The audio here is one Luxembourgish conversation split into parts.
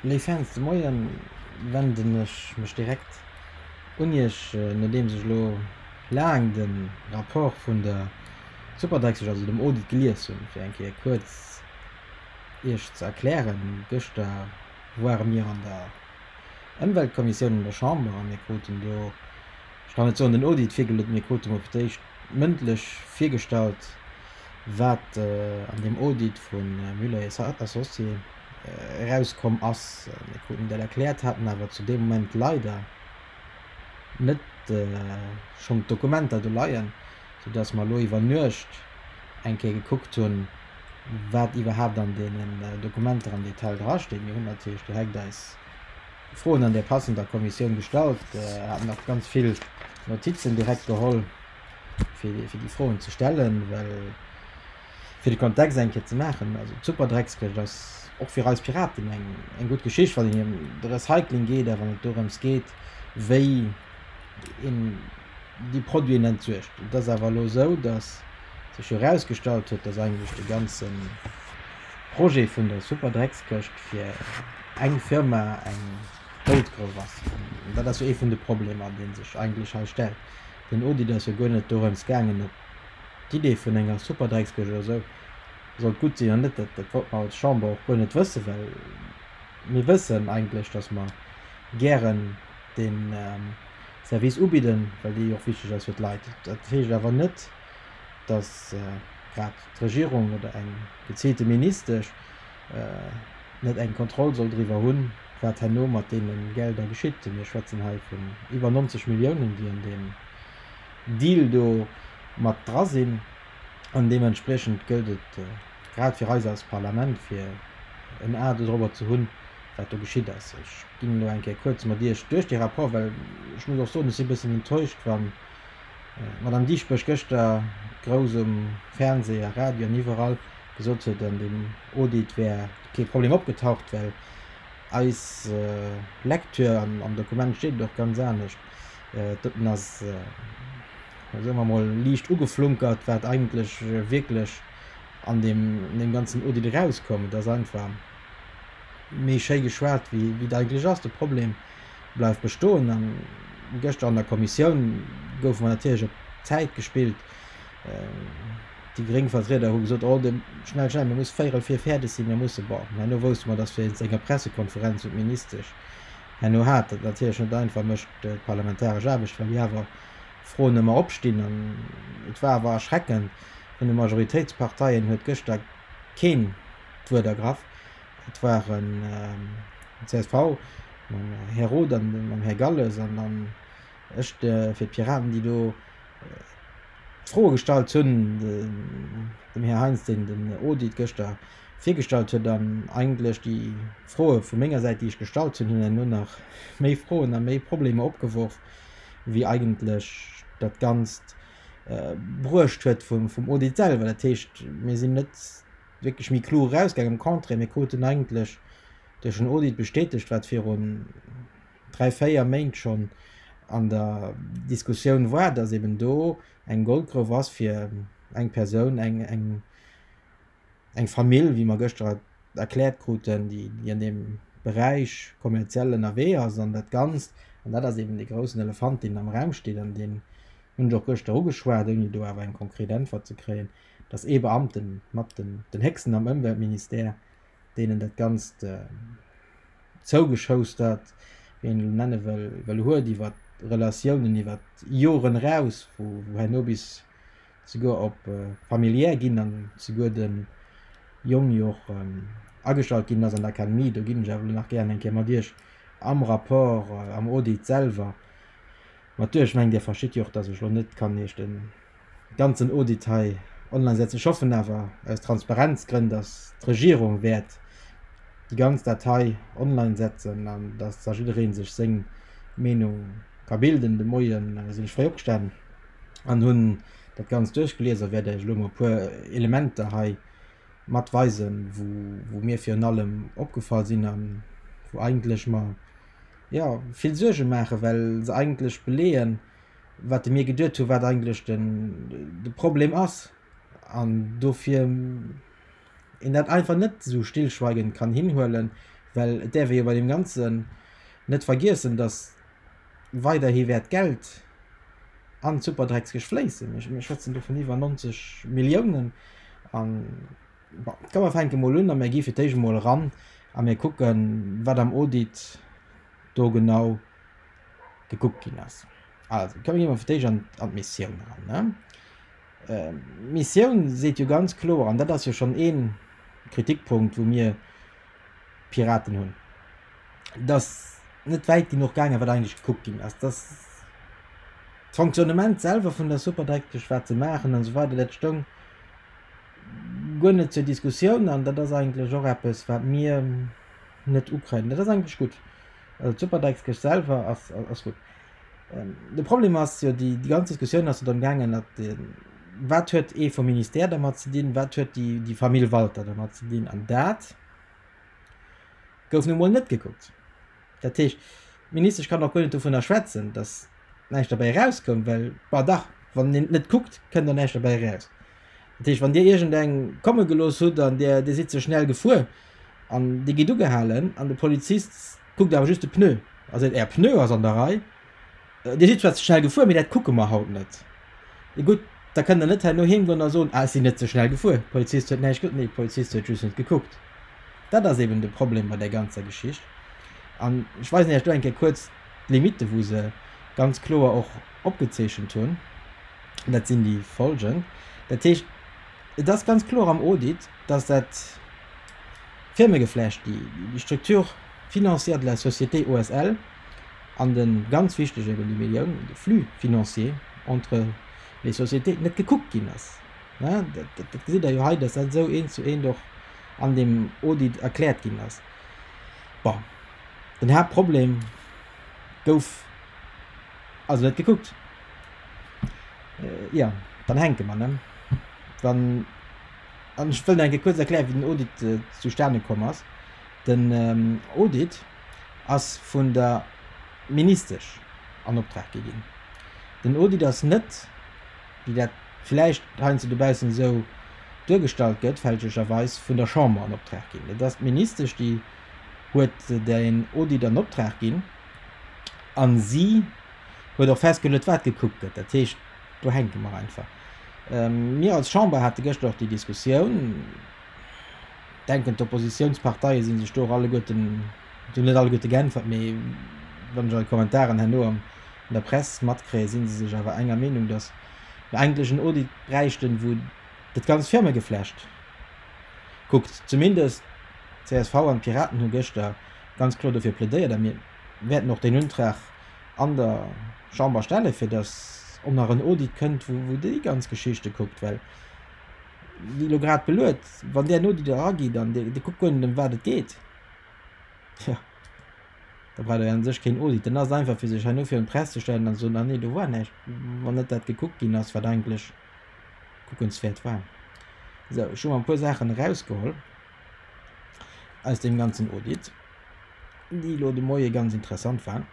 Léif Fans, de Moie wenden ech mech direkt un Iech, nodeems ech elo laang de Rapport vun der Superdrexesch, also dem Audit, gelies hunn. Fir eng Kéier kuerz Iech ze erklären, Gëschter ware mir an der Ëmweltkommissioun an der Chamber a mir kruten do, ech kann et soen, den Audit virgelot. Mir krute mol fir d'éischt mëndlech virgestallt, wat an deem Audit vu Muller et Associés erauskomm ass. Mir kruten dat erkläert, haten awer zu deem Moment leider net schonn d'Dokumenter do leien, soudass mer elo iwwer Nuecht eng Kéier gekuckt hunn, wat iwwerhaapt an deenen Dokumenter am Detail drasteet. Mir hunn natierlech direkt eis. Froen an där passender Kommissioun gestallt, haten och ganz vill Notizen direkt geholl fir déi Froen ze stellen, well fir de Kontext eng Kéier ze maachen, also d'Superdreckskëscht ass och fir eis Piraten eng gutt Geschicht, wann et ëm de Recycling geet a wann et dorëms geet, wéi een, déi Produiten entsuergt. Et ass awer elo esou, datt sech jo erausgestallt huet, datt eigentlech de ganze Projet vun der Superdreckskëscht fir eng Firma eng Goldgrouf ass. An dat ass jo ee vun de Problemer, dee sech eigentlech hei stellt. Den Audit ass jo guer net dorëms gaangen, ob d'Idee vun enger Superdreckskëscht oder esou sollt gutt sinn oder net. Dat wollte mer als Chamber och guer net wëssen, well mir wëssen eigentlech, datt mer gären dee. Service ubidden, well déi och wichteg ass fir d'Leit. Dat heescht awer net, dass grad d'Regierung oder eng geziilte Ministesch net eng Kontroll soll driwwer hunn, wat herno mat deene Gelder geschitt. Mir schwätzen hei vun iwwer 90 Milliounen, déi an deem Deal do mat dra sinn. An deementspriechend gëllt et grad fir eis als Parlament, fir en A dorobber ze hunn, wat do geschitt ass. ginn elo eng Kéier kuerz mat Iech duerch dee Rapport, well ech muss och soen, ech si e bëssen enttäuscht, wa Madame Dieschbourg gëschter grouss um Fernseh a Radio an iwwerall gesot huet, an deem Audit wär kee Problem opgetaucht, well eis Lektür an am Dokument steet et och ganz anescht. Doten ass, soe mer emol, liicht ugeflunkert, wat eigentlech wierklech an deem ganzen Audit erauskoum. Et ass einfach. Mee schéi geschwat, wéi et eigentlech ass, de Problem bleift bestoen. An gëschter an der Kommissioun goufe mer natierlech op d'Zäit gespillt. Déi gréng Vertrieder hu gesot, oh, schnell, schnell, mir musse véierel vir fäerdeg sinn, mir musse, bon, herno wousste mer, datt wéinst enger Pressekonferenz un d'Ministesch herno hat, dat natierlech net einfach mécht, d'parlamentaresch Aarbecht, well déi awer Froen ëmmer opstinn. An et war awer erschreckend, vun de Majoritéitsparteien huet gëschter keen d'Wuert ergraff. Et waren den csv, den Här Roth an den Här Galles an dann ech fir d'Piraten, déi do d'Froe gestallt hunn, dem Här Heinz, deen den Audit gëschter virgestallt huet, an eigentlech déi Froe vu menger Säit, déi ech gestallt hunn, hunn elo nach nach méi Froen a méi Problemer opgeworf, wéi eigentlech dat Ganzt bruecht huet vum Audit selwer. Dat heescht, mir sinn net. wierklech méi kloer erausgaangen, am Contraire, mir kruten eigentlech duerch en Audit bestätegt, wat virun dräi, véier Méint schonn an der Diskussioun war, dass eben do eng Goldgrouf ass fir eng Persoun, eng Famill, wéi mer gëschter erkläert kruten, déi an deem Beräich kommerziell ënnerwee ass. An dat Ganzt, an dat ass eben dee groussen Elefant, deen am Raum steet an deen hunn ech och gëschter ugeschwat, ouni do awer eng konkret Äntwert ze kréien, Et ass ee Beamte mat, den héchsten am Ëmweltministère, deen dat Ganzt zougeschoustert, wéi een elo nenne wëll, huet, iwwer Relatiounen iwwer Joren eraus, wou herno bis souguer op familiär ginn an souguer de Jong jo och agestallt ginn ass an d'Akademie. Do ginn ech awer elo nach gären eng Kéier mat Iech am Rapport, am Audit selwer mat duerch. Ech mengen, Dir verstitt jo och, dass ech elo net kann Iech de Ganzen Audit hei online setzen. Ech hoffen awer aus Transparenzgrënn, dass d'Regierung wäert déi ganz Datei online setzen an dass da jidderee sech seng Meenung ka bilden. De Moie sinn ech fréi opgestanen an hunn dat Ganzt duerchgelies a wäert Iech elo mol e puer Elementer hei mat weisen, wou mir virun allem opgefall sinn a wou eigentlech mer, jo, vill Suerge maachen, well se eigentlech beleeën, wat de mir geduet hu wat eigentlech de Problem ass an dofir een dat einfach net esou stillschweigend kann hinhuelen, well et däerf ee jo bei deem Ganzen net vergiessen, datt weiderhi wäert d'Geld an d'Superdreckskesch fléissen. Mir schwätzen do vun iwwer 90 Milliounen an, bon, komm mer fänke mol un a mir gi fir d'éischt emol eran a mir kucke wat am Audit do genau gekuckt ginn ass. Also komme mir fir d'éischt an d'Missioun eran. D'Missioun seet jo ganz kloer, an dat ass jo schonn ee Kritikpunkt, wou mir Piraten hunn, dass net wäit genuch gaangen ass, wat eigentlech gekuckt ginn ass, dass d'Fonctionnement selwer vun der Superdreckeg, wat se maachen an esou weider, dat stoung guer net zur Diskussioun. An dat ass eigentlech och eppes, wat mir, Net Ukraine, dat ass eigentlech gutt. Also d'Superdeckskëscht selwer ass, ass gutt. Ähm, de Problem ass jo, déi, déi ganz Diskussioun ass jo dann gaangen, dat den, wat huet ee vum Ministère dermat ze dinn, wat huet déi, déi Famill Walter dermat ze dinn, an dat gouf nu mol net gekuckt. Dat heescht, d'Ministesch kann och guer net dovunner schwätzen, datt näischt derbäi erauskoum, well, bah dach, wann een net kuckt, kënnt och näischt derbäi eraus. Dat heescht, wann Dir iergendeng komme gelooss hutt an Dir, Dir sidd ze schnell gefuer, An dir gitt ugehalen an de Polizist kuckt awer just de Pneu a seet, Är Pneu ass an der Rei. Dir sidd zwar ze schnell gefuer, mee dat kucke mer haut net. Ee gutt, da kënnt der net herno heemgoen a soen, Ah, ech sinn net ze schnell gefuer, de Polizist huet näischt gesot. Nee, de Polizist huet just net gekuckt. Dat ass eben de Problem bei där ganzer Geschicht. An ech weisen Iech do eng Kéier kuerz d'Limitte wou se ganz kloer och opgezeechent hunn. Dat sinn déi folgend, dat heescht, Et ass ganz kloer am Audit, dass dat Firmegeflecht, déi Structure financière de la société OSL an de ganz wichtege, ebe déi Millioun, de Flux financier entre les sociétés net gekuckt ginn ass. Dat gesitt Der jo hei, dass dat esou eent zu eent och an deem Audit erkläert ginn ass. Bon, den Haaptproblem gouf also net gekuckt. Jo, dann hänke mer, ne? Dann, an ech wëll nach eng Kéier kuerz erklären, wéi den Audit zustane komm ass. Den Audit ass vun der Ministesch an Optrag gi ginn. Den Audit ass net, wéi dat vläicht heiansdo dobaussen esou duergestallt gëtt, fälschlecherweis vun der Chamber an Optrag ginn. Et ass d'Ministesch, déi huet deen Audit an Optrag ginn a si huet och festgeluet, wat gekuckt gëtt. Dat heescht, do hänke mer einfach. Mir als Chamber hate gëschter och déi Diskussioun. Ech denken, d'Oppositionsparteie si sech do och alleguerten, si net alleguerte geäntwert, mee wann ech eure Kommentaren herno an der Press matkréien, si se sech awer enger Meenung, dass mer eigentlech en Audit bräichten, wou dat ganzt Firmegeflecht kuckt. Zumindest d'CSV an d'Piraten hu gëschter ganz kloer dofir plädéiert a mir Mir wäerten och deen Untrag an der Chamber stellen, fir dass, ob nach en Audit kënnt, wou déi ganz Geschichte kuckt. Well, wéi elo grad beluet, wann där en Audit erageet an dee kuckt guer net, ëm wat et geet, tjo, da braucht Der jo u sech keen Audit. Dann ass et einfach, fir sech herno virun d'Press ze stellen an ze soen, Ah nee, do war näischt, wann net dat gekuckt ginn ass, wat eigentlech kuckenswäert war. Esou, ech hu mer e puer Saachen erausgeholl. aus dem ganzen Audit, déi elo de Moie ganz interessant war.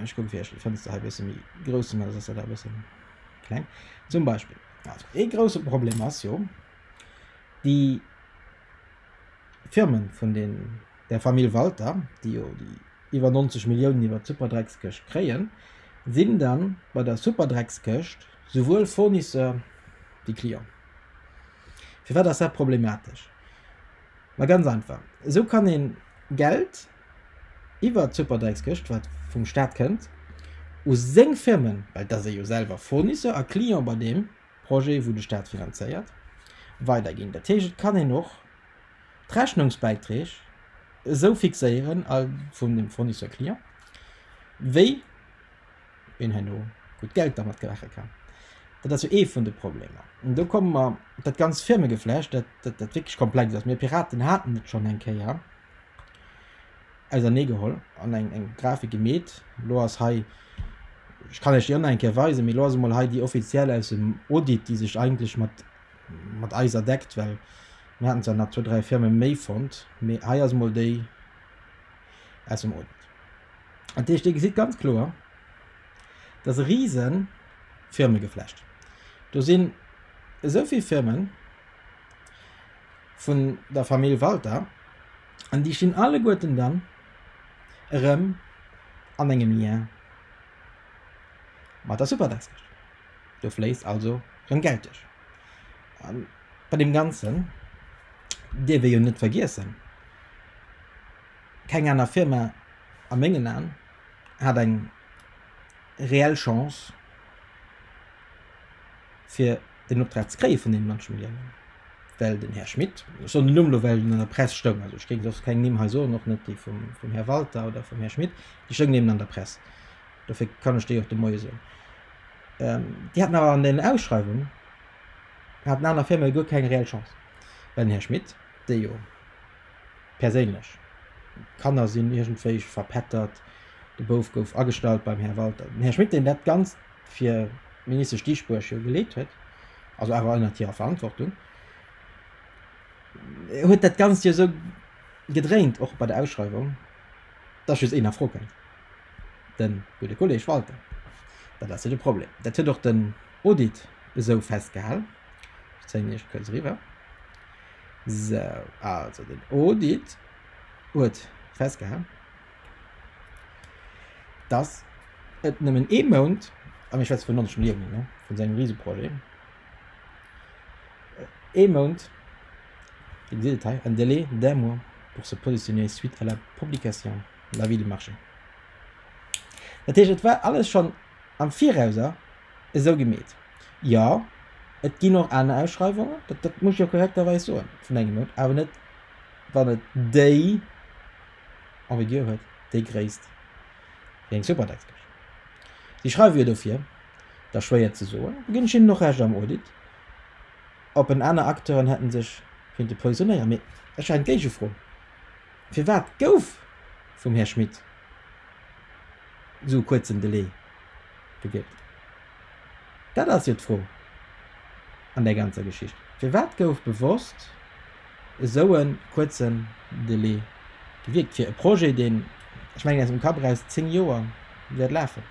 Ech kucke fir iech d'Fënster hei e bësse méi grouss ze maachen, soss ass dat e bësse kleng. Zum Beispill, also ee grousse Problem ass jo, déi Firme vun den, der Famill Walter, déi jo déi iwwer 90 Milliounen iwwert d'Superdreckskëscht kréien, sinn da bei der Superdreckskëscht souwuel Fournisseur wéi Client. Firwat ass dat problematesch? Ma ganz einfach, esou kann ee Geld iwwert d'Superdréckskëscht, wat vum Staat kënnt, u seng Firmen, well et ass ee jo selwer Fournisseur a Client bei deem Projet, wou de Staat finanzéiert, weiderginn. Dat heescht, et kann een och d'Rechnungsbäiträg esou fixéieren vun dem Fournisseur-Client, wéi. een herno gutt Geld dermat gemache kann. Dat ass jo ee vun de Problemer. An do komme mer op dat ganzt Firmegeflecht, dat wierklech komplex ass. Mir Piraten haten et schonn eng Kéier auserneegeholl an eng Grafik gemeet. Elo ass hei, ech kann lech déi ënner eng Kéier weisen, mee elo ass emol hei déi offiziell aus dem Audit, déi sech eigentlech mat mat eiser deckt, well mir haten zwar nach zwou, dräi Firme méi fonnt, mee hei ass emol déi aus dem Audit. Dat heescht, Dir gesitt ganz kloer, dat ass e rise Firmegeflecht. Do sinn esou vill Firme vun der Famill Walter an déi stinn alleguerten dann erëm an engem Lien mat der Superdaskech. Do fléisst also rëm Geld duerch. A bei deem Ganzen dierf ee jo net vergiessen, Keng aner Firma, a mengen Aen, hat eng reell Chance, fir deen Optrag ze kréie vun deene Mënsche wéi engem. Well den Här Schmit, ech soen den Numm elo, well en an der Press stoung, also ech géing soss keng Nimm hei soen, och net dee vum Här Walter oder vum Här Schmit, déi stoungen eben an der Press, dofir kann ech déi och de Moie soen, déi haten awer an den Ausschreiwungen, haten aner Firmae guer keng reell Chance, well den Här Schmit, dee jo. Perséinlech, d'Kanner sinn iergendwéi verpettert, de Bouf gouf agestallt beim Här Walter. Den Här Schmit, deen dat Ganzt fir d'Ministesch Dieschbourg jo geleet huet, also awer ënnert hirer Verantwortung, huet dat Ganzt jo esou gedréint, och bei der Ausschreiwung, dass just een a Fro kënnt, de gudde Kolleg Walter. Dat ass jo de Problem. Dat huet och den Audit esou festgehalen. Ech zéien iech kuerz eriwwer. Sou, also den Audit huet festgehalen, dass et nëmmen ee Mount, a mir schwätze vun 90 Milliounen, ne, vun sengem Riseprojet, ee Mount, dir gesitt et hei, un délai d'un mois pour se positionner suite à la publication de l'avis du marché. Dat heescht, et war alles schonn. Am Virauser esou gemeet. Jo, et ginn och aner Ausschreiwungen, dat, dat muss ech jo korrekterweis soen, vun engem Mount, awer net, wann et déi, en vigueur huet, déi Gréisst wéi eng Superdexbech. Si schreiwe jo dofir, da schwéier ze soen, do ginn ech hinnen och Recht, am Audit, ob en aner Acteuren hätte sech kinte positionéieren. Mee ech eng Géigefro. Firwat gouf vum Här Schmit esou e kuerzen Delai gewielt? Dat ass jo d'Fro an där ganzer Geschicht. Firwat gouf bewosst esou e kuerzen Delai gewielt fir e Projet, deen, ech mengen aus dem Kapp eraus, zéng Joer wäert lafen?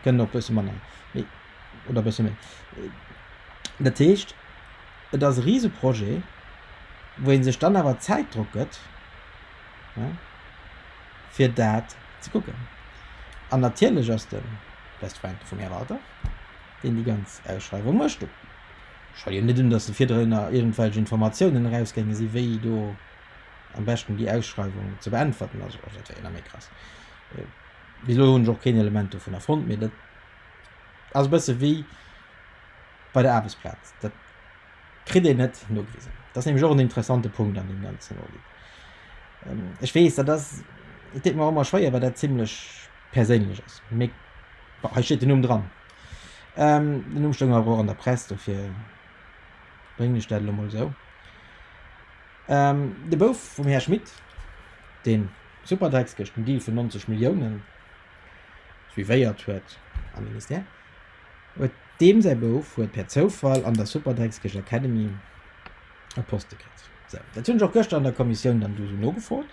Kënnen och e bësse manner, mee, oder e bësse méi. Dat heescht. Et ass e Riseprojet, wou ee sech dann awer Zäitdrock gëtt, fir dat ze kucken. An natierlech ass de best friend vum Här Walter, deen déi ganz Ausschreiwung mécht do scho jo net un, datt do virdrunner iergendwelch Informatiounen erausgaange sinn, wéi do am beschten déi Ausschreiwung ze beäntwerten ass. Also dat wär jo nach méi krass. Bis elo hunn ech och keen Element dovunner fonnt, mee dat ass e bësse wéi, bei der Aarbechtsplaz. Dat kritt een net nogewisen. Dat ass nämlech och en interessante Punkt an deem ganzen Audit. Ähm, ech weess, dat ass, et deet mer ëmmer schwéier, well dat zimlech perséinlech ass. Mee bon, hei steet den Numm dran. Ähm, den Numm stoung awer och an der Press, dofir bréngen ech dat elo mol esou. Ähm, de Bouf vum Här Schmit, dee Superdreckskesch, den Deal vun 90 Milliounen suivéiert huet am Ministère, Huet deem säi Bouf huet per Zoufall an der Superdreckskesch Academy e Poste kritt. Sou, dat hunn ech och gëschter an der Kommissioun dann do sou nogefrot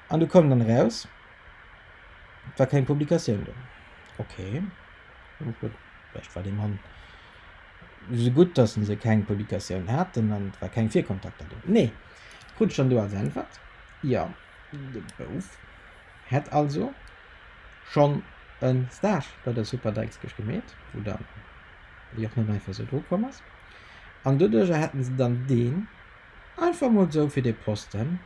an do koum dann eraus, et war keng Publikatioun do. Ok, hu ech geduecht, vläicht war dee Mann sou gutt, dass en se keng Publikatioun haten an et war keng Virkontakter do. Nee, krut ech dann do als Äntwert, jo, de Bouf Hätt also schonn e Stage bei der Super Deichkiirch gemeet, wou dann déi och net einfach esou dru komm ass, an doduerjer hätten se dann deen einfach emol esou fir dee Posten,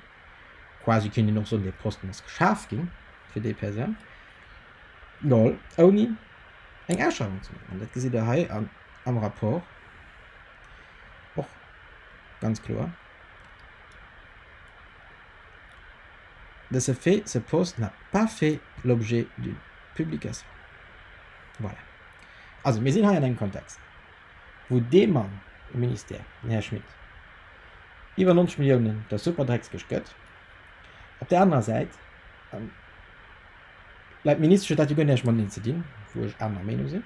quasi kéint een och soen, dee Posten ass geschaf ginn fir déi Persoun, geholl, ouni eng Ausschreiwung ze maachen. An dat gesitt Der hei am Rapport och ganz kloer. De ce fait, ce post n'a pas fait l'objet d'une publication. Voilà. Also, mir sinn hei an engem Kontext, wou dee Mann um Ministère, den Här Schmit, iwwer 90 Milliounen der Superdreckskëscht gëtt. Op där anerer Säit, an, laut Ministesch huet dat jo guer näischt mat Linn ze dinn, wou ech anerer Meenung sinn,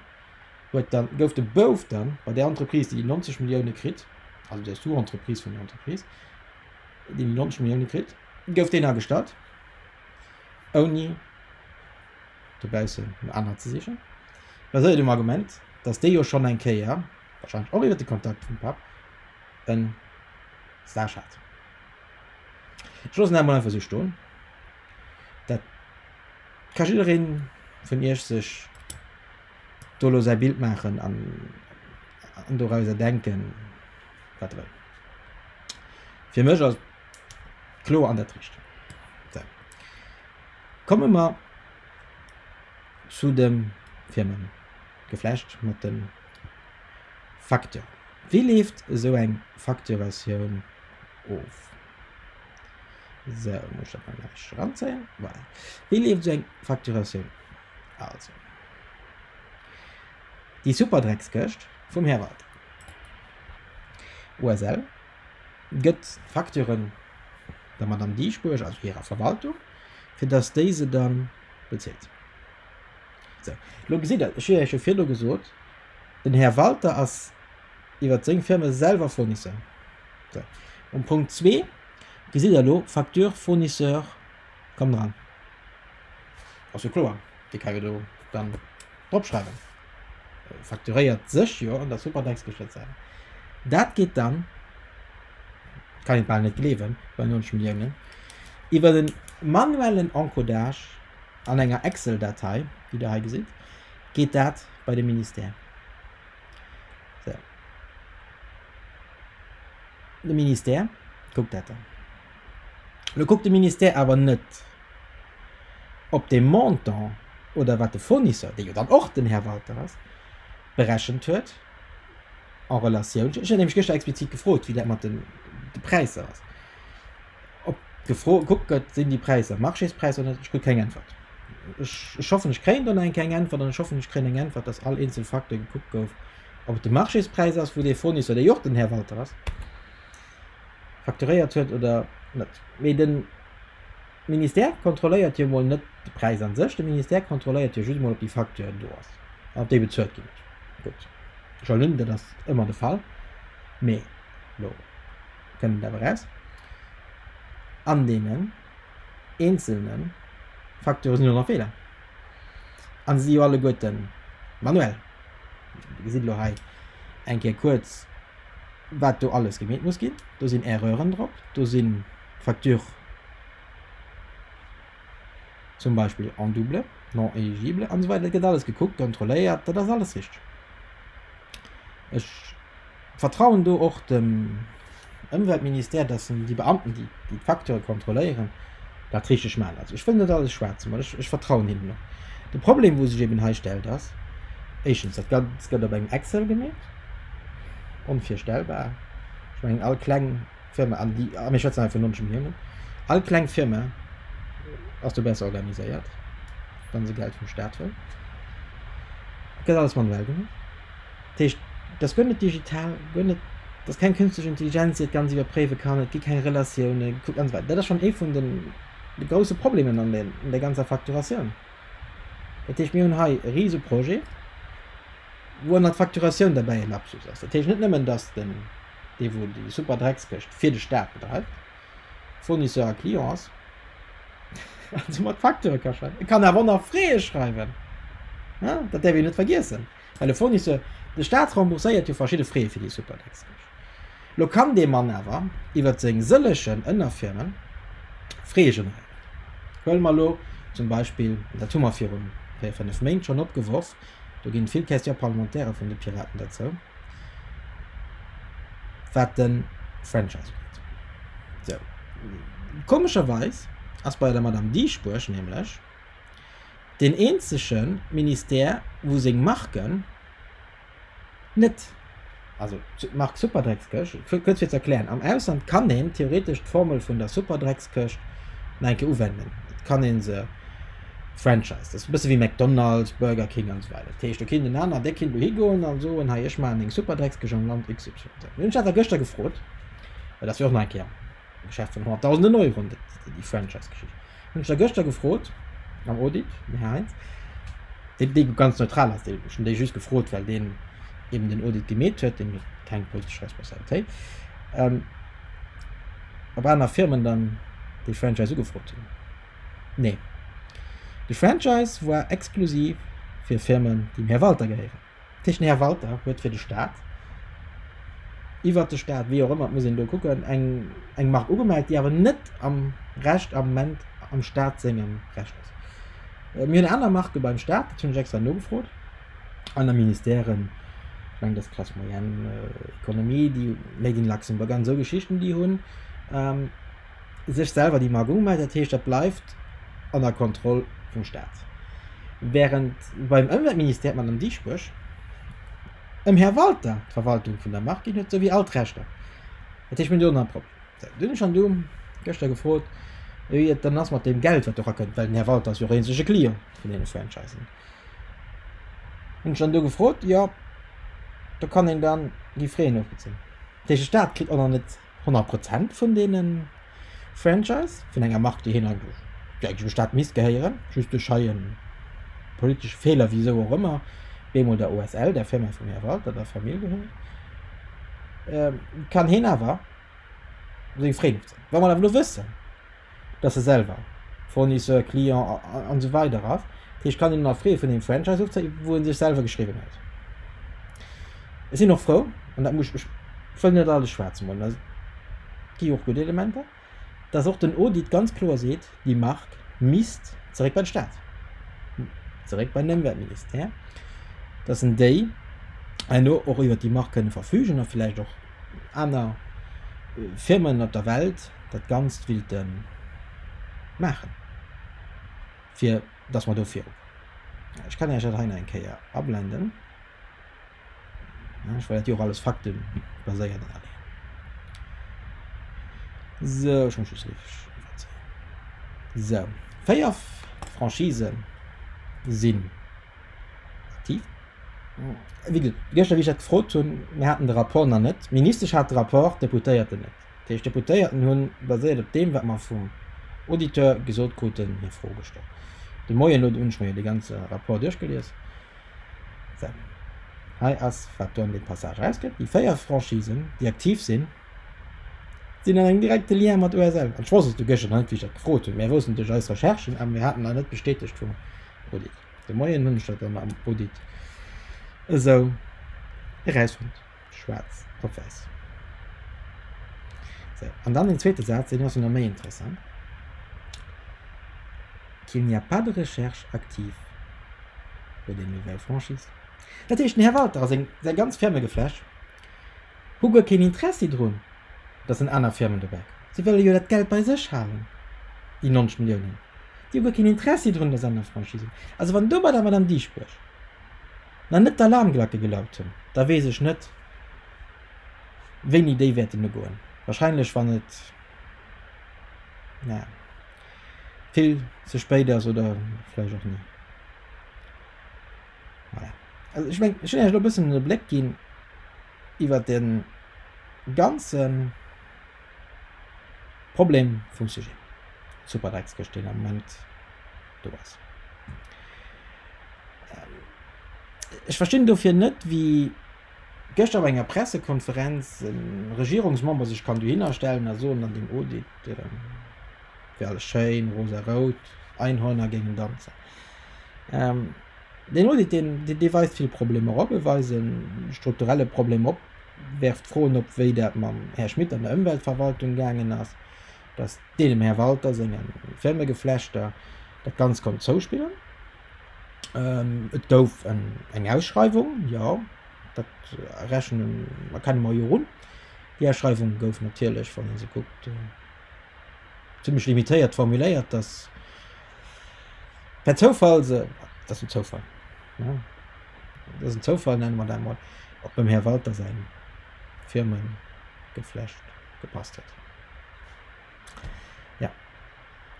huet dann, gouf de Bouf dann bei där Entreprise, déi déi 90 Milliounen kritt, also der Sous-Entreprise vun der Entreprise, déi déi 90 Milliounen kritt, gouf deen agestallt, ouni dobaussen no anere ze sichen, baséiert um Argument, datt dee jo schonn eng Kéier, warscheinlech och iwwert de Kontakt vum Papp, e Stage hat. Ech loossen dat emol einfach esou stoen. Dat ka jidderee vun iech sech do elo säi Bild maachen an dorauser denken, wat e wëll. Fir mech ass Kloer an dat Richteg. Sou. Komme mer zu dem Firmen geflecht mat den Facteur. Wéi leeft esou eng Facturatioun of? Sou, muss dat mol nach ranzéien. Voilà. Wéi leeft esou eng Facturatioun? Also. Déi super Dreckskëscht vum Här Walter. OSL, gëtt d'Facturen der Madame Dieschbourg, also hirer Verwaltung, fir dass déi se da bezilt. Sou, elo gesitt Der, ech hu Iech jo virdu gesot, den Här Walter ass iwwert seng Firme selwer Fournisseur. Sou, um Punkt 2 gesitt Der elo, Facture fournisseur, komm dran, ass jo kloer. Déi kann jo do dann dropschreiwen. Äh, fakturéiert sech jo an der Superdex geschëtzt sein. Dat geht dann, kann ich bald net gleewen, bei 90 Milliounen, iwwer den manuellen Encodage an enger Excel-Datei, déi der hei gesitt, geht dat bei de Ministère. So. De Ministère guckt dat dann. Lo guckt de Ministère awer net op dee Montant oder wat de Fournisseur, dee jo dann och den Här Walter ass, berechent huet en relatioun, ech hunn nämlech gëschter explizit gefrot, wéi dat mat de Präisser ass, ob gefro gekuckt gëtt, sinn déi Präisser Marchéspräisser oder net. Ech krut keng Äntwert. Ech, ech hoffen, ech kréien do nach eng keng Äntwert an ech hoffen, ech kréien eng Äntwert, dass all eenzel Facteur gekuckt gouf, ob et de Marchéspräis ass, wou dee Fournisseur, dee jo och den Här Walter ass, facturéiert huet oder net. Mee den. De Ministère kontrolléiert jo mol net de Präis a sech, de Ministère kontrolléiert jo just mol, ob déi Facture do ass an ob déi bezuelt ginn ass. Gutt, ech halen un, dat ass ëmmer de Fall, mee elo kënnt et awer eraus, An deenen eenzelne Facturë sinn jo nach Feeler a se si jo alleguerte manuell. Dir gesitt elo hei eng Kéier kuerz, wat do alles gemeet muss ginn. Do sinn Erreuren drop, do si Facture zum Beispill en double, non éligible an esou weider. Et gëtt alles gekuckt, kontrolléiert, dat ass alles richteg. Ech vertrauen do och dem Ëmweltministère, dass en déi Beamten, déi déi Facturë kontrolléieren, dat richteg maachen. Also ech wëll net alles schwaarz malen, ech, ech vertrauen hinnen och. De Problem, wou sech eben hei stellt, ass éischtens, dat Gan, s gëtt op engem Excel gemeet, onvirstellbar. Ech mengen, all kleng Firma an déi a mir schwätzen einfach nonch um Himmel. All kleng Firma ass do besser organiséiert, wann se Geld vum Staat wëll. Gëtt alles manuell gemaach. Dat heescht, dat gëtt net digital, gëtt net, dat ass keng künstlich Intelligenz, déi dat Ganzt iwwerpréiwe kann, et gi keng Relatioune gekuckt an esou weider. Dat ass schonn ee vun de grousse Problemen an der, an der ganzer Facturatioun. Dat heescht, mir hunn hei e rise Projet, wou ënnert Facturatioun derbäi e Lapsus ass. Dat heescht net nëmmen, datt den. dee wou déi super Dreckskëscht fir de Staat bedreift, Fournisseur a Client ass, an soumat Facture ka schreiwen. E kann awer och nach Frais schreiwen, dat däerf een net vergiessen, well e Fournisseur, de Staat rembourséiert jo verschidde Frais fir déi super Dreckskëscht. Elo kann dee Mann awer iwwert seng sëllegen Ënnerfirmen Frais generéieren. Huele mer elo zum Beispill, dat hu mer virun véier, fënnef Méint schonn opgeworf, Do ginn vill Questions parlementaires vun de Piraten derzou, wat den Franchise ugeet. Sou, komescherweis ass bei der Madame Dieschbourg nämlech deen eenzegen Ministère wou seng Marken net, also d'Mark Superdreckskëscht, kuerz fir ze erklären, am Ausland kann een theoretesch d'Formel vun der Superdreckskëscht nach eng Kéier uwenden, et kann ee se franchisen, dat ass e bësse wéi McDonald's, Burger King an esou weider. Dat heescht, do kéint en aner, där kéint elo higoen a soen, hei ech maachen eng Superdreckskëscht am Land XYZ. Mir hunn eis dat da gëschter gefrot, well dat wier och nach eng Kéier. Geschäft vun Honnerttausenden Euron, dat déi déi Franchise-Geschicht. Hunn ech da gëschter gefrot am Audit, den Här Heinz, dee dee ganz neutral ass, dee ech hunn déi just gefrot, well deen eben den Audit gemeet huet, deen huet keng politesch Responsabilitéit, ähm, ob aner Firmen dann déi Franchise ugefrot hunn. Nee. De Franchise war exklusiv fir Firmen, déi dem Här Walter gehéieren. Techne Här Walter huet fir de Staat, iwwert de Staat, wéi och ëmmer, et muss een do kucken, eng Mark ugemellt, déi awer net am Recht am Moment am Staat sengem Recht ass. Mir hunn aner Marke beim Staat, dat hunn ech extra nogefrot, aner Ministèren, ech mengen dass d'Classe moyenne, Economie, déi Made in Luxembourg an esou Geschichten, déi hunn, sech selwer déi Mark ugemellt, dat heescht dat bleift an der Kontroll vum Staat. Während beim Ëmweltministère, d'Madame Dieschbourg, ëm Här Walter d'Verwaltung vun der Mark ginn huet, souwéi all d'Rechter. Dat heescht mir hunn do nach e Problem. Sou, dunn hunn ech am Doom gëschter gefrot, wéi et dann ass mat deem Geld wat do rakënnt, well den Här Walter ass jo och eenzege Client vun deene Franchisen. Hunn ech dann do gefrot, jo, do kann een dann déi Fréen ofbezéien. Dat heescht de Staat kritt och nach net 100 Prozent vun deenen Franchise vun enger Mark déi hien eigentlech eigentlech dem Staat misst gehéieren, just duerch hei en politesche Feeler wisou och ëmmer bemol der OSL, der Firma vum Här Walter, der Famill gehéiert, kann hien awer seng Fréen ofzéien. Wa mer awer elo wëssen, dass e selwer Fournisseur, Client an esou weider ass, ech kann een nach freeë vun engem Franchise ofzéien, wou e sech selwer geschriwwen huet. Ech sinn och frou, an dat muss, ech wëll net alles schwaarz molen, et gi jo och gutt Elementer, dass och den Audit ganz kloer seet, déi Mark misst zeréck bei de Staat, zeréck bei den Ëmweltministère, dass en déi herno och iwwert déi Mark kënne verfügen a villäicht och aner Firmen op der Welt dat Ganzt willte maachen, fir datt mer do viru kommen. Ech kann Iech dat hei nach eng Kéier ablenden, well dat jo och alles faktebaséiert an allem. Sou, ech muss just richteg iwwerzéien. Sou, véier Franchisen sinn. Effektiv. Wéi ge gëschter, wéi ech dat gefrot hunn, mir haten de Rapport nach net. D'Ministesch hat de Rapport, d'Deputéierten net. Dat heescht, d'Deputéierten hunn, baséiert op deem, wat mer vum Auditeur gesot kruten, hir Fro gestallt. De Moien no, do hunn ech mer jo dee ganze Rapport duerchgelies. Well hei ass, wat do an deem Passage erausgëtt, déi véier Franchisen, déi aktiv sinn, sinn an engem direkte Lien mat OSL. An ech wosst et du gëschter nach net, wéi ech dat gefrot hunn. Mir wossten duerch eis Recherchen, awer mir haten nach net bestätegt vum Auditeur. De Moien hunn ech dat dann am Audit esou erausfonnt, schwaarz op wäiss. Sou, an dann den zweete Saz, deen ass jo nach méi interessant, qu'il n'y a pas de recherche active pour des nouvelles franchises. Dat heescht, den Här Walter a seng ganz Firmegeflecht, Hu guer keen Intressi drun, datt den aner Firmen dobäi kommen. Si wëlle jo dat Geld bei sech halen, déi 90 Milliounen. Déi hu guer keen Intressi drun, datt aner Franchisen do sinn. Also wann do bei der Madame Dieschbourg nach net d'Alarmglacke gelaut hunn, da weess ech net, wéini déi wäerten ugoen. Wahrscheinlech wann et, naja, vill ze spéit ass oder vläicht och ni. Voilà. Also ich mein, ich will lo bëssen den Bléck ginn iwwer den ganzen Problem vum Sujet. Super Drecks gëscht den am Moment do ass. Ähm, ich verstinn dofir net wie gëscht op enger Pressekonferenz en Regierungsmember sech kann dohinner stellen a soen an dem Audit ähm, wär alles schéin, rosa-rout, Einhörner géingen danzen. Ähm, deen Audit, deen, deen, dee weist vill Problemer op, e weist e strukturelle Problem op, werft Froen op, wéi dat mam Här Schmit an der Ëmweltverwaltung gaangen ass, dass dee dem Här Walter senge Firmegeflechter dat Ganzt konnt zouspillen. Ähm, et gouf en, eng Ausschreiwung, jo, dat rechnen, erkenne mer jo un. Déi Ausschreiwung gouf natierlech, wann ee se kuckt, zimlech limitéiert formuléiert, dass, Per Zoufall se, dat ass en Zoufall, ne? Dat ass en Zoufall, nenne mer dat mol, op dem Här Walter säin Firmengeflecht gepasst huet. Jo,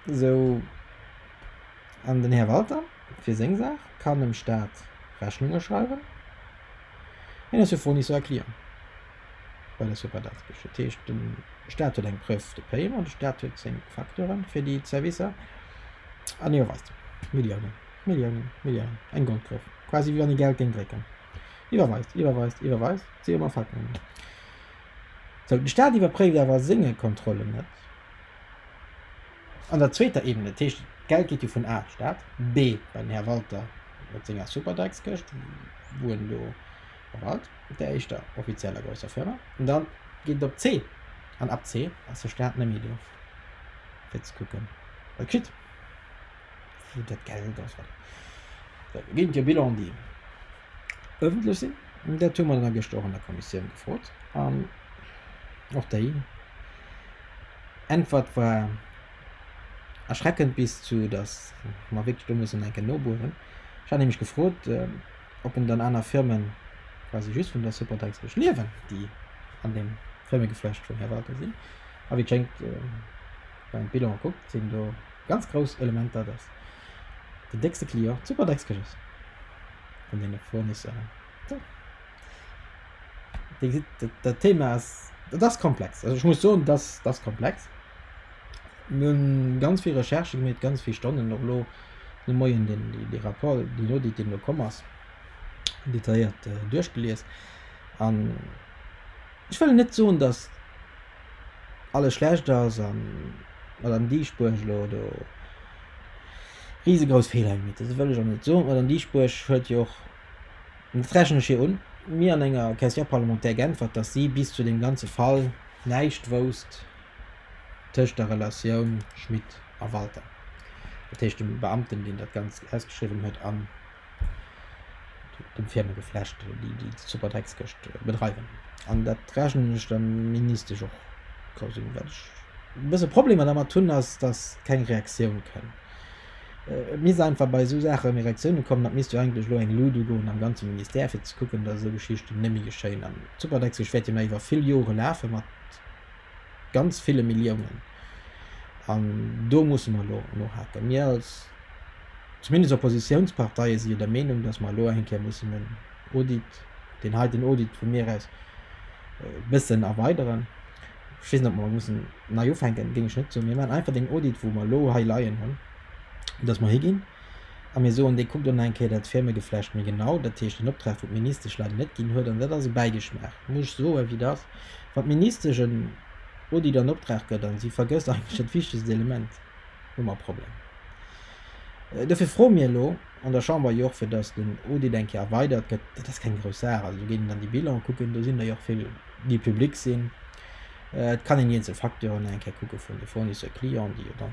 esou, an den Här Walter, fir seng Saach, kann dem Staat Rechnunge schreiwen, hien ass jo Fournisseur-Client. Well ech soubal dat gëscht. Dat heescht, de Staat huet eng Preuve de payer an de Staat huet seng Facturen fir déi Servicer an hie weist Milliounen, Milliounen, Milliounen, eng Goldgruef, quasi wéi wann ee Geld géing drécken, iwwerweist, iwwerweist, iwwerweist, si ëmmer Facturen. Sou, de Staat iwwerpréift awer senge Kontrollen net. An der zweeter Ebene, dat heescht, d'Geld geet jo vun A, Staat, B, bei den Här Walter mat senger Superdax-Këscht, wou en do, Verwalt op der éischter offizieller grousser Firma an dann geet et op C an ab C ass de Staat net méi do fir ze kucken wat kritt wou dat Geld ass wat da ginn et jo Bilanen déi ëffentlech sinn an dat hu mer dann gëschter och an der Kommissioun gefrot an och déi Äntwert war erschreckend bis zu datt mer wierklech do mussen eng Kéier nobueren. Ech hat nämlech gefrot, ob en dann aner Firmen quasi just vun der Supportex Esch liewen, déi an deem Firmegeflecht vun Här Walter sinn. A wéi et schéngt, wann een d'Bilane kuckt, sinn do ganz grouss Elementer, dass den déckste Client d'Supportex Esch ass vun deene Fournisseuren. Tjo, Dir gesitt, dat Thema ass, dat ass komplex. Also ech muss soen, dat ass komplex. Mir hunn ganz vill Recherche gemeet, ganz vill Stonnen och elo. de Moien deen, dee Rapport, deen Audit, deen elo komm ass, detailléiert duerchgelies. An ech wëll net soen, datt alles schlecht ass an d'Madame Dieschbourg elo do risegrouss Feeler gemaach huet. Dat wëll ech och net soen. D'Madame Dieschbourg huet jo och, an dat rechnen ech hir un, mir an enger Question parlementaire geäntwert, datt si bis zu deem ganze Fall näischt wousst, tëscht der Relatioun Schmit a Walter, dat heescht dem Beamten, deen dat Ganzt ausgeschriwwen huet, an dem Firmegeflecht, déi déi Superdreckskëscht bedreiwen. An dat rechnen ech der Ministesch och grouss un. Wat ech e bësse Problemer dermat hunn, ass, datt keng Reaktioun kënn. Et misst einfach bei esou Saache méi Reaktioune kommen. Et misst jo eigentlech elo eng Lut ugoen am ganze Ministère, fir ze kucken, datt esou Geschichten net méi geschéien. An d'Superdreckskëscht wäert jo nach iwwer vill Jore lafe mat ganz ville Milliounen. An do musse mer elo nohaken. Mir als zumindest Oppositionsparteie si jo der Meenung, datt mer elo eng Kéier mussen den Audit, deen heiten Audit vu mir aus, e bëssen erweideren. Ech weess net, ob mer mussen nei ufänken, géing ech net soen. Mir maachen einfach deen Audit, wou mer elo hei leien hunn, datt mer higinn a mir soen, dee kuckt elo nach eng Kéier dat Firmegeflecht méi genau. Dat heescht, den Optrag, wou d'Ministesch leider net ginn huet, an dat ass e Bäigeschmaach, muss ech soen, wéi et ass, Wann d'Ministesch en Audit an Optrag gëtt a si vergësst eigentlech dat wichtegst Element, hu mer e Problem. Dofir froe mir elo an der Chamber jo och, fir datt den Audit eng Kéier erweidert gëtt. Dat ass keng grouss Saach. Also do géing een dann déi Bilane kucken. Do sinn der jo och vill, déi public sinn. Et kann een déi eenzel Facturen eng Kéier kucke vun de Fournisseurs clients, déi jo dann,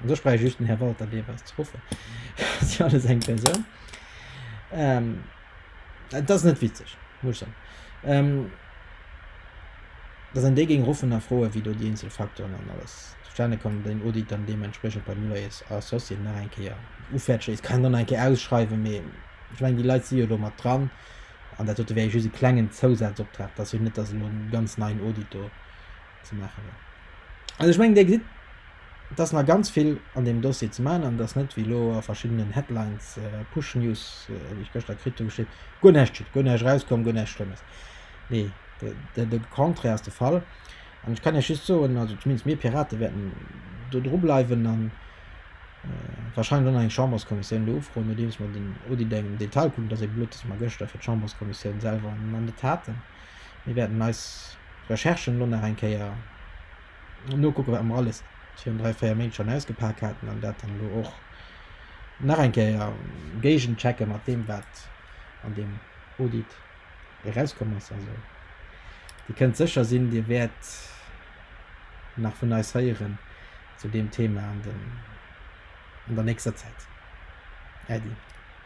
an do spreche ech just den Här Walter Dewas ze ruffen, dat ass jo alles eng Persoun. Et ass net witzeg, muss ech soen. Dass een déi géing rofënnerfroen, wéi do déi eenzel Facteuren an alles zustane kommen, an den Audit dann deementspriechend beim Loyers Associé nach eng Kéier ufäerdeg léisst, kann een dann nach eng Kéier ausschreiwen. Mee ech mengen, déi Leit si jo do mat dran. An dat dote wär jo just e klengen Zousazoptrag. Dat ass jo net, dass elo e ganz neien Audit do ze maachen war. Also ech mengen, Dir gesitt, et ass nach ganz vill an deem Dossier ze maachen an et ass net wéi elo a verschiddenen Headlines, Push-News, déi ech gëschter kritt hunn, geschitt, guer näischt geschitt, guer näischt erauskomm, guer näischt Schlëmmes. Nee, de, de Contraire ass de Fall. An ech kann Iech just soen, also zumindest mir Pirate wäerten do dru bleiwen an wahrscheinlech och nach eng Chamberskommissioun do ufroen, nodeems mer den Audit engem Detail kucken. Et ass ee Blutt, datt mer gëschter fir d'Chamberskommissioun selwer an de Taten. Mir wäerten eis Recherchen elo nach eng Kéier nokucken, wat mer alles virun dräi, véier Méint schonn ausgepak haten, an dat dann elo och nach eng Kéier géigenchecke mat deem, wat an deem Audit erauskomm ass. Also Dir kënnt sécher sinn, Dir wäert nach vun eis héieren zu deem Thema an der nächster Zäit. Äddi.